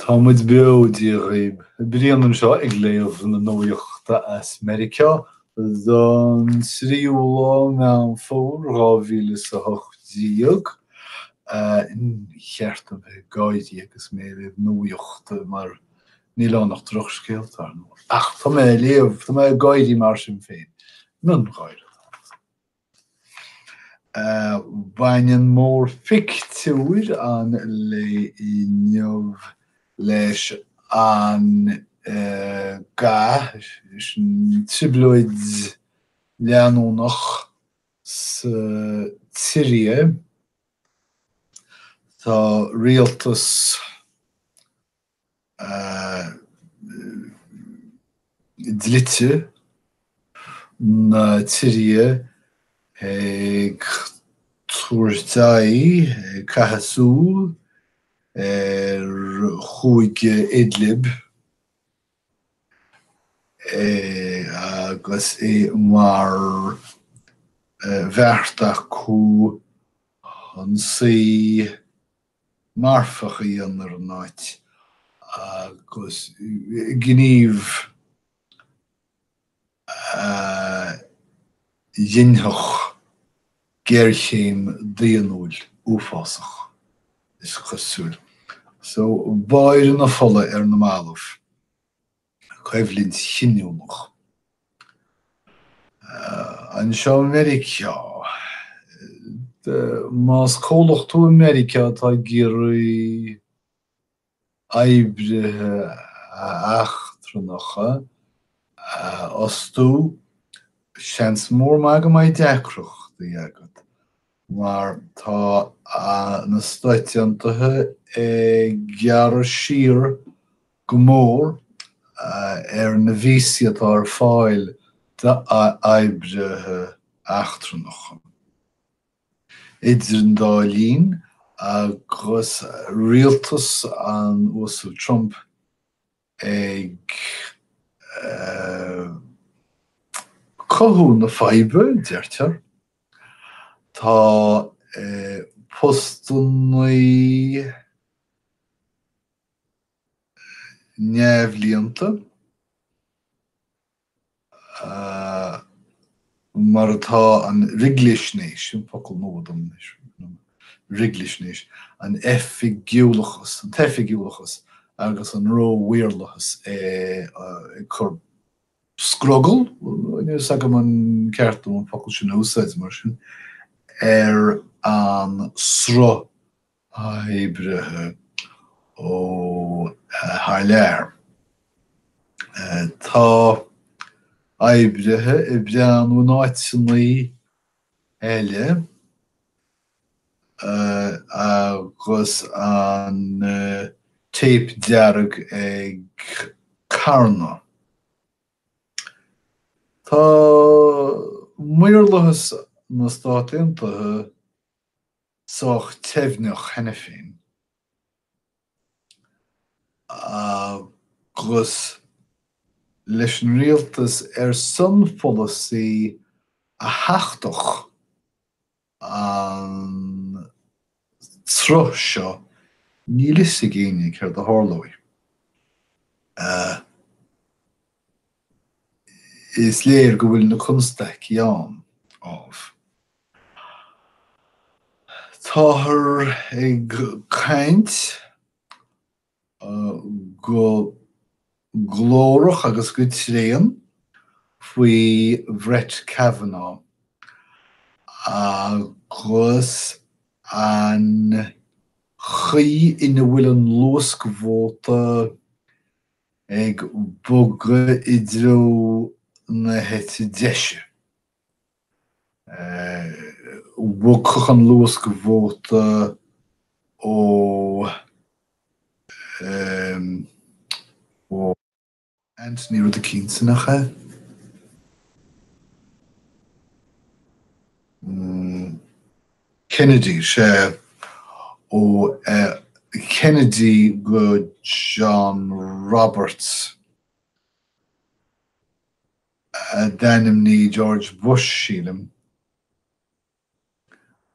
Tá muid beo, Dia dhaoibh! Brian anseo ag léamh na nuachta as Meiriceá don tríú lá, Meán Fómhair 2018. Níor cheart dom bheith ag gáirí agus mé ag léamh nuachta mar níl ann ach drochscéalta, ar ndóigh, ach tá mé ag léamh, tá mé ag gáirí mar sin féin. Miongháire atá ann. Baineann mórphictiúr an lae inniu leis an gcath, trioblóid leanúnach sa tSiria. Tá rialtas. dlite na tSiria ag tabhairt aghaidh, ag caitheamh súl, ar chúige Idlib agus é mar bheart acu ionsaí marfach a dhéanamh ar an áit agus gníomh a dhinfeadh géarchéim daonnúil uafásach, is cosúil. So, báire na fola ar na mallaibh. coimhlint chinniúnach. Anseo i Meiriceá, más comhlacht tú i Meiriceá atá ag iarraidh oibrithe eachtrannacha a fhostú, seans mór maith go mbeidh deacrachtaí agat mar tá na Stáit Aontaithe ag gearradh siar go mór ar na víosaí atá ar fáil d'oibrithe eachtrannacha, idir an dá linn agus rialtas an Uasail Trump ag cothú na faidhbe, deirtear. Tá postannaí. neamhlíonta, mar atá, an riglisnéis, sin focal nua dom anois, riglisnéis, an oifigiúlachas, an t-oifigiúlachas agus an ró-mhaorlathas ag cur scrogaill, níl a fhios agam an ceart dom an focal sin a úsáid mar sin, ar an sruth oibrithe ó thar lear. Tá oibrithe ag breathnú in áiteanna eile agus an téip dearg ag carnadh. Tá maorlathas na Stát Aontaithe sách teibhneach cheana féin agus leis an rialtas ar son polasaí a thachtfadh an sruth seo, níl a fhios ag éinne céard a tharlóidh. Is léir go bhfuil na constaicí ann, ámh. Táthar ag caint go glórach agus go tréan faoi Brett Kavanaugh agus an chaoi ina bhfuil an luascvóta ag bogadh i dtreo na heite deise. Bhogfadh an luascvóta ó Anthony rud eicínt nach ea? Kennedy, sea ó Kennedy go John Roberts a d'ainmnigh George Bush, sílim,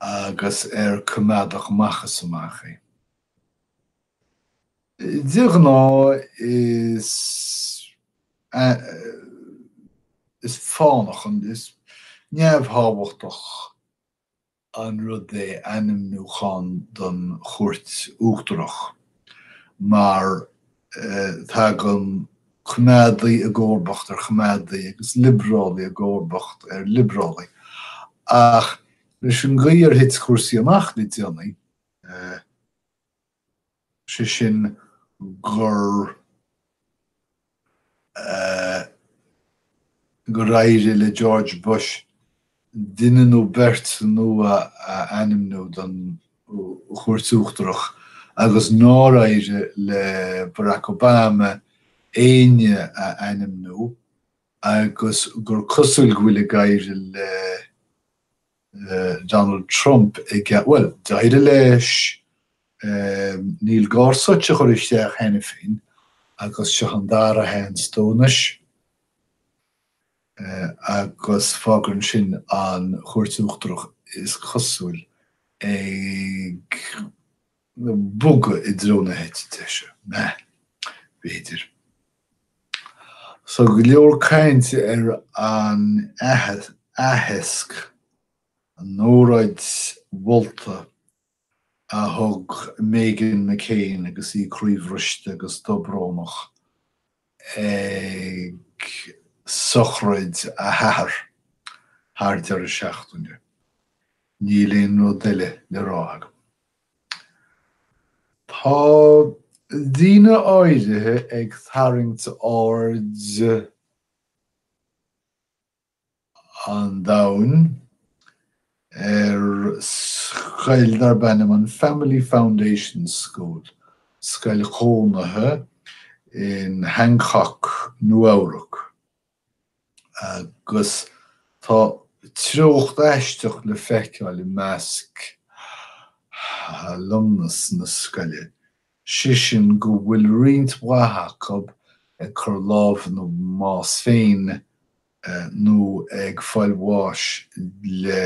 agus ar coimeádach amach is amach é. De ghnáth is fánach, is neamhthábhachtach an rud é ainmniúchán don Chúirt Uachtarach mar tagann coimeádaí i gcomharbacht ar choimeádaí agus liobrálaí i gcomharbacht ar liobrálaí ach leis an gcaoi ar thit cúrsaí amach le déanaí, sé sin gur éirigh le George Bush duine nó beirt nua a ainmniú don Chúirt Uachtarach agus nár éirigh le Barack Obama éinne a ainmniú agus gur cosúil go bhfuil ag éirigh le Donald Trump, bhuel, d'éirigh leis Neil Gorsuch a chur isteach cheana féin agus seo an dara sheans dó anois agus fágann sin an Chúirt Uachtarach, is cosúil, ag. bogadh i dtreo na heite deise, b'fhéidir. So go leor cainte ar an aitheasc, an óráid mholta a thug Meghan McCain agus í croíbhriste agus dobrónach ag sochraid a hathar thar deireadh seachtaine. Níl aon rud eile le rá agam. Tá daoine áirithe ag tarraingt aird an domhain ar scoil darb ainm an Family Foundation School, scoil chónaithe in Hancock, Nua-Eabhrac. agus tá treocht aisteach le feiceáil i measc alumnus na scoile, sé sin go bhfuil roinnt mhaith acu ag cur lámh ina mbás féin nó ag fáil bháis le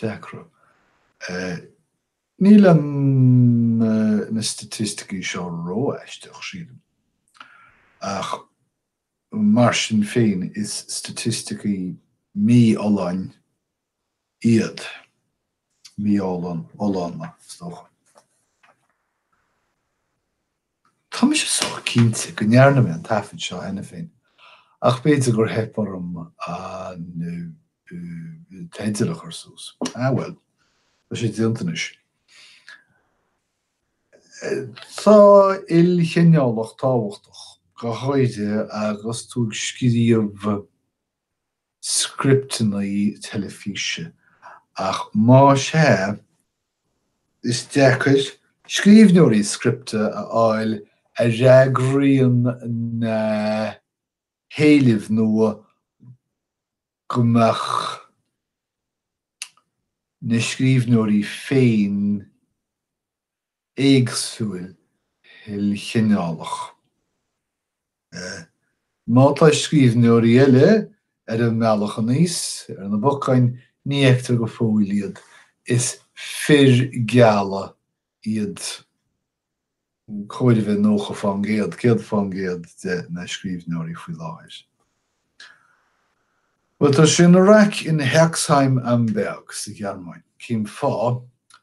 deacra. Níl na staitisticí seo ró-aisteach, sílim, ach mar sin féin is staitisticí mífholláin iad, mífholláine, is dócha. Tá mise sách cinnte go ndearna mé an taifead seo cheana féin, ach b'fhéidir gur theip orm an teideal a chur suas. Ah bhuel, tá sé déanta anois. Tá ilchineálacht tábhachtach, go háirithe agus tú ag scríobh. scripteanna teilifíse, ach más ea, is deacair scríbhneoirí scripte a fháil a fhreagraíonn dá héilimh nó go mbeadh na scríbhneoirí féin éagsúil ilchineálach. Má tá scríbhneoirí eile ar an mbealach aníos ar na bacáin, ní fheictear go fóill iad, is fir geala iad cóir a bheith 90% 100%, de na scríbhneoirí faoi láthair. Bhuel, tá sé ina raic in Herxheim am Berg sa Ghearmáin cén fáth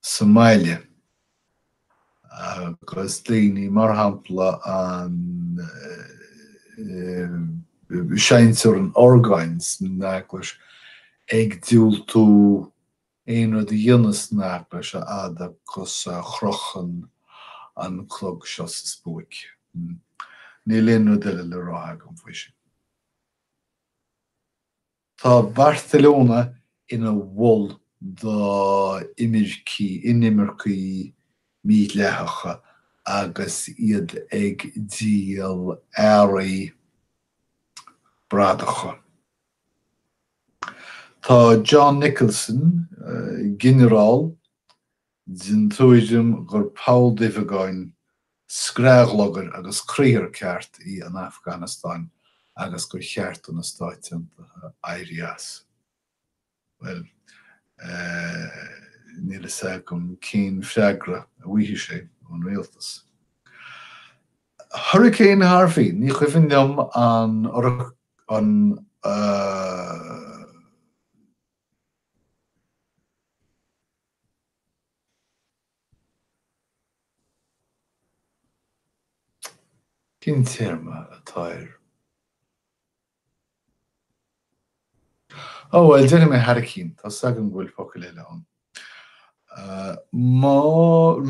sa mbaile, agus daoine mar shampla an seinnteoir an orgáin san eaglais ag diúltú aon rud a dhéanamh san eaglais a fhad agus a chrochann an clog seo sa spuaic. Níl aon rud eile le rá agam faoi sin. Tá Barcelona ina mhol d'imircigh, inimircigh mídhleathacha agus iad ag díol earraí bradacha. Tá John Nicholson, Ginearál den tuairim gur poll duibheagáin, scraith ghlugair agus criathar ceart í an Afganastáin agus gur cheart do na Stáit Aontaithe éirí as. Bhuel. eh. níl a fhios agam cén freagra a bhfaighidh sé ón rialtas. Hurricane Harvey, ní cuimhin liom an an eh. Cén téarma atá air? Ó, bhuel, déanfaidh mé hairicín. Tá 's agam go bhfuil focail eile ann. Má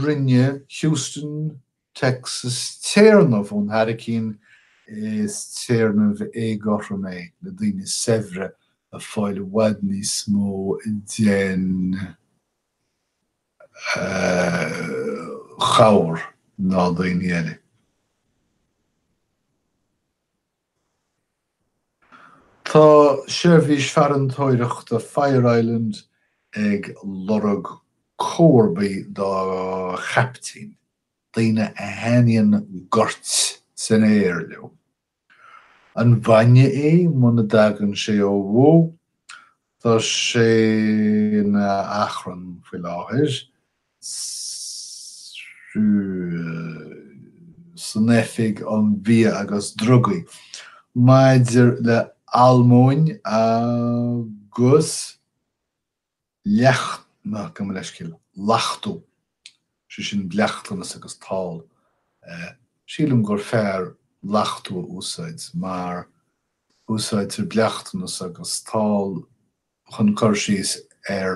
rinne Houston Texas téarnamh ón hairicín is téarnamh éagothrom é le daoine saibhre ag fáil i bhfad níos mó den chabhair ná daoine eile. Tá Seirbhís Farantóireachta Fire Island ag lorg comharbaí dá Chaiptín, daoine a thaitníonn goirt san aer leo. An bhainne é muna dtagann sé ó bhó? Tá sé ina achrann faoi láthair san Oifig um Bia agus Drugaí maidir le almóinn agus leachtú, gabh mo leithscéal, lachtú, sé sin bleachtanas agus tál. Sílim gur fearr lachtú a úsáid mar Úsáidtear bleachtanas agus tál chun cur síos ar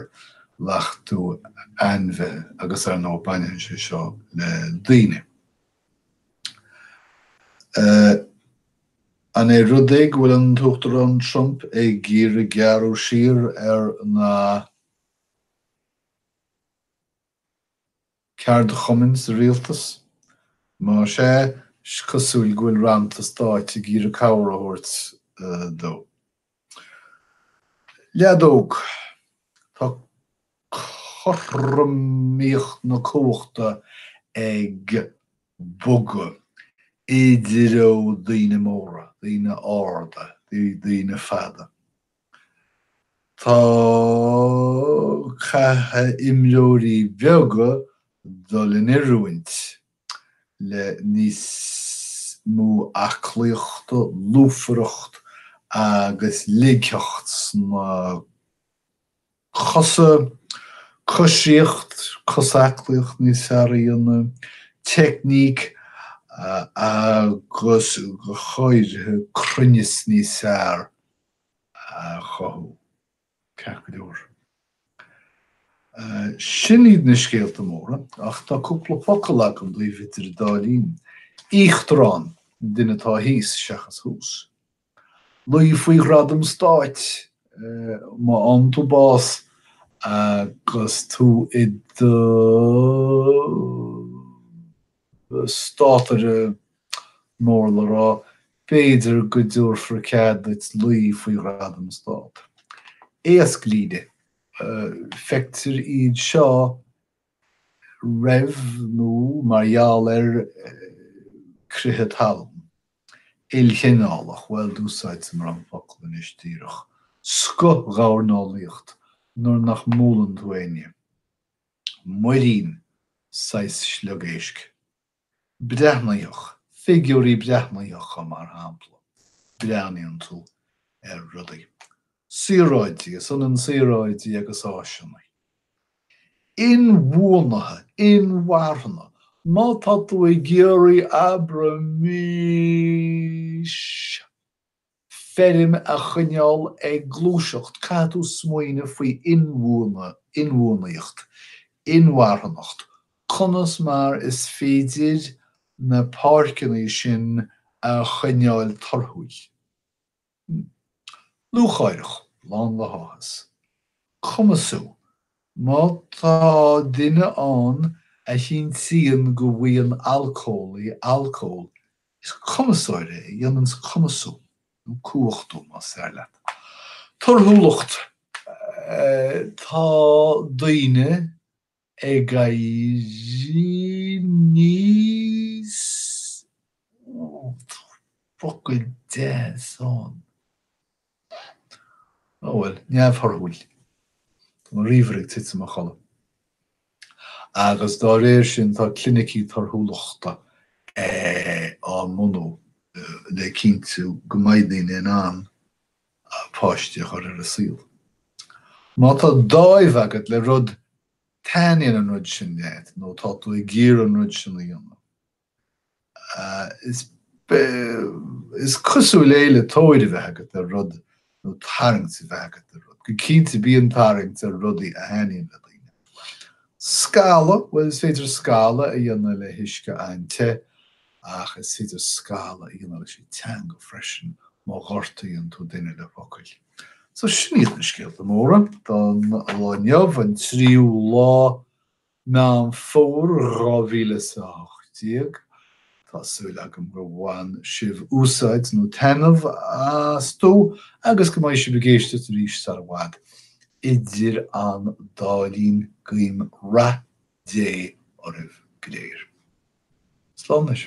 lachtú ainmhithe agus ar ndóigh baineann sé seo le daoine. An é rud é go bhfuil an tUachtarán Trump ag iarraidh gearradh siar ar na. ceardchumainn sa rialtas? Más ea, is cosúil go bhfuil rannta stáit ag iarraidh cabhair a thabhairt dó. Leadóg Tá cothromaíocht na cumhachta ag bogadh i dtreo daoine móra, daoine arda, daoine fada. Tá caithfidh imreoirí beaga dul in oiriúint le níos mó aclaíochta, lúfaireacht agus ligtheacht sna. cosa, coisíocht, cosaclaíocht níos fearr a dhéanamh, teicníc agus go háirithe cruinneas níos fearr a chothú. Ceart go leor, sin iad na scéalta móra ach tá cúpla focal agam daoibh idir an dá linn. Íochtarán, an duine atá thíos seachas thuas. Luí faoi Ghradam Stáit má fhaigheann tú bás agus tú i do státaire mór le rá, b'fhéidir go dtabharfar cead duit luí faoi Ghradam Stát. Éasclíne. Feictear iad seo roimh nó mar gheall ar crith talún. Ilchineálach, bhuel, d'úsáideamar an fhocal anois díreach, scothghabharneolaíocht nuair nach mbualann tú éinne, muirín saghas sliogéisc. breathnaitheach, figiúirí breathnaitheacha, mar shampla, breathnaíonn tú ar rudaí, saoráidí, is ionann saoráidí agus áiseanna, inbhuanaithe, inmharthana, má tá tú ag iarraidh abraimis, feirm a choinneáil ag gluaiseacht, caithfidh tú smaoineamh faoi inbhuanaitheacht, inmharthanacht, conas mar is féidir na páirceanna sin a choinneáil torthúil. Lúcháireach, lán le háthas. Cumasú. Má tá duine ann a chinntíonn go bhfaigheann alcólaí alcól, is cumasóir é a dhéananns cumasú, nó cumhachtú, más fearr leat. Torthúlacht Tá daoine ag éirí níos Tá focal deas ann. Á bhuel, neamhthorthúil. Tá an ríomhaire ag titim a chodladh. Agus dá réir sin tá clinicí torthúlachta á mbunú le cinntiú go mbeidh daoine in ann páistí a chur ar an saol. Má tá dáimh agat le rud, taitníonn an rud sin leat nó tá tú ag iarraidh an rud sin a dhéanamh, Is cosúil é le tóir a bheith agat ar rud nó tarraingt a bheith agat ar rud. Go cinnte bíonn tarraingt ar rudaí a thaitníonn le daoine. Scalladh, bhuel is féidir scalladh a dhéanamh le huisce an-te ach is féidir scalladh a dhéanamh leis an teanga freisin má ghortaíonn tú duine le focail. So sin iad na scéalta móra don lá inniu, an tríú lá Meán Fómhair 2018. Tá súil agam gur bhain sibh úsáid nó taitneamh astu agus go mbeidh sibh ag éisteacht arís sar i bhfad. Idir an dá linn guím rath Dé oraibh go léir. Slán anois.